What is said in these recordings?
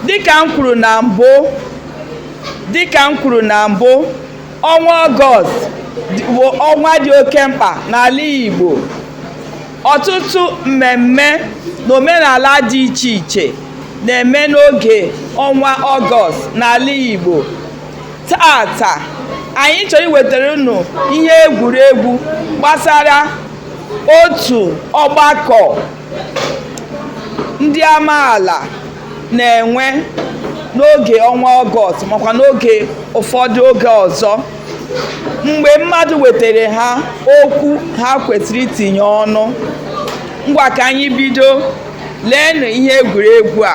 dịka m kwuru na mbụ ọnwa ọgọst bụ ọnwa dị oke mkpa n'ala Igbo ọtụtụ mmemme na omenala dị iche iche na-eme n'oge ọnwa ọgọst n'ala Igbo taata anyị chọrọ iwetara unu ihe egwuregwu gbasara otu ọgbakọ ndị amaala na-enwe n'oge ọnwa ọgọst makwa n'oge ụfọdụ oge ọzọ mgbe mmadụ wetara ha okwu ha kwesịrị itinye ọnụ ngwa ka anyị bido leenụ ihe egwuregwu a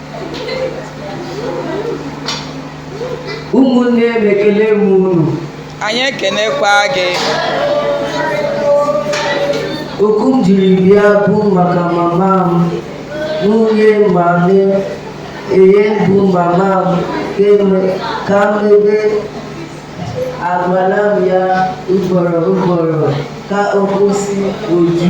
ụmụnne m ekele m unu anyị ekenekwa gị okwu m jiri bịa bụ maka mama m nwunye ma eye bụ mama m ka mebe agwala m ya ugboro ugboro ka ọ kwụsị oju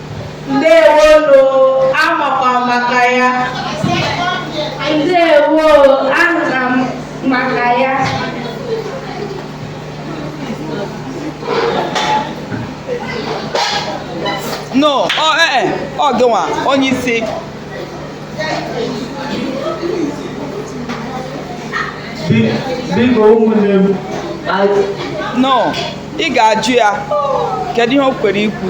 ndewonu amakwa maka ya ndewo ana m maka ya no ọ ee eh, eh, ọ gịnwa onye isi biko ụmụnne m no ị ga-ajụ ya kedu ihe o kwere ikwu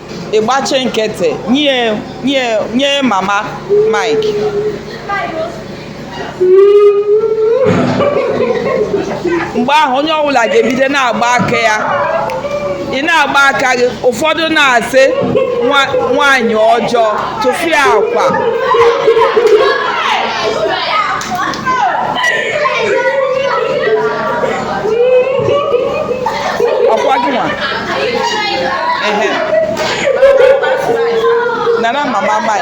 ị gbachi nkịtị nye nye nye mama Mike mgbe ahụ onye ọbụla ga-ebido na-agba aka ya ị na-agba aka gị ụfọdụ na-asị nwaanyị ọjọọ tụfịakwa ehe nana mama mai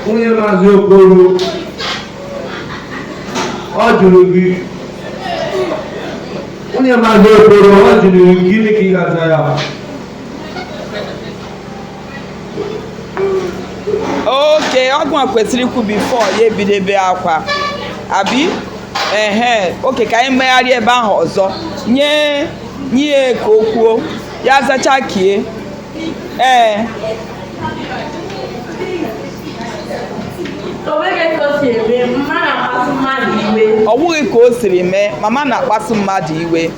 nwunye maazị okoro ọ jụrụ gị nwunye maazị okoro ọ jụrụ gị gịnị ka ị ga-aza ya okay ọ gịnwa kwesịrị ikwu before ya ebido ibe akwa abi ehe okay ka anyị megharịa ebe ahụ ọzọ nye nye ka o kwuo ya zacha kie ee ọ wụghị ka o siri mee mama na-akpasu mmadụ iwe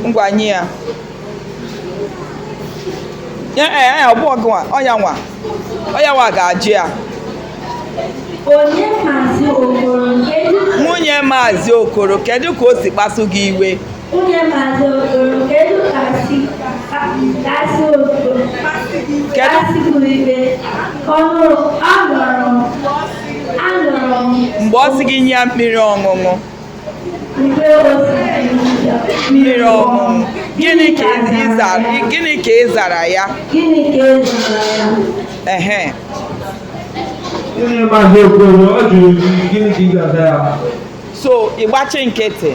ngwa nye ya ya eh, eh, ọ bụrọ gị nwa ọ ya nwa ọ ya nwa ga-ajụ ya nwunye maazị okoro kedu ka o si kpasu gị iwe kedu mgbe ọ sị gị nye ya mmiri ọṅụṅụ mmiri ọṅụṅụ gịnị ka ị zara gịnị ka ị zara ya ehe so ị gbachi nkịtị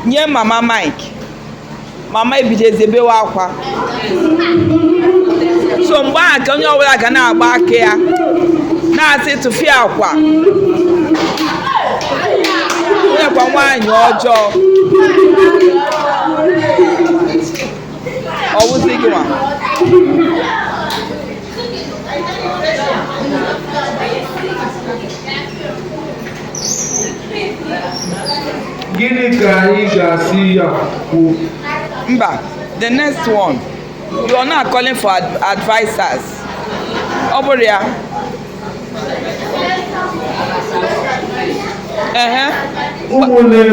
nye mama mike mama ebidozie bewe akwa so mgbe ahụ ka onye ọbụla ga na-agba aka ya na-asị tụfịakwa nekwa nwaanyị ọjọọ ọ wụzi gị nwa gịnị ka anyị ga-asị ya kwuo mba the next one you are now calling for ad- advisers ọ bụrọ ya ehe ụmụnne m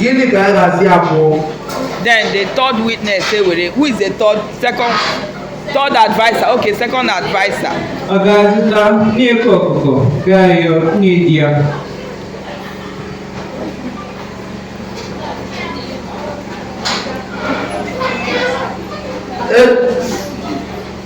gịnị ka a ga-asị abụọ then the third witness say where who is the third second third adviser okay second adviser. ọ ga-azụta nne eke ọkụkọ gaa yọọ nne di ya E-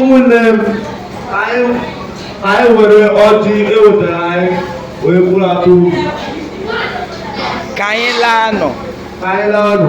ụmụnne m anyị were ọjị e wetara anyị wee bụrụ atụ uru ka anyị laanụ ka anyị laanụ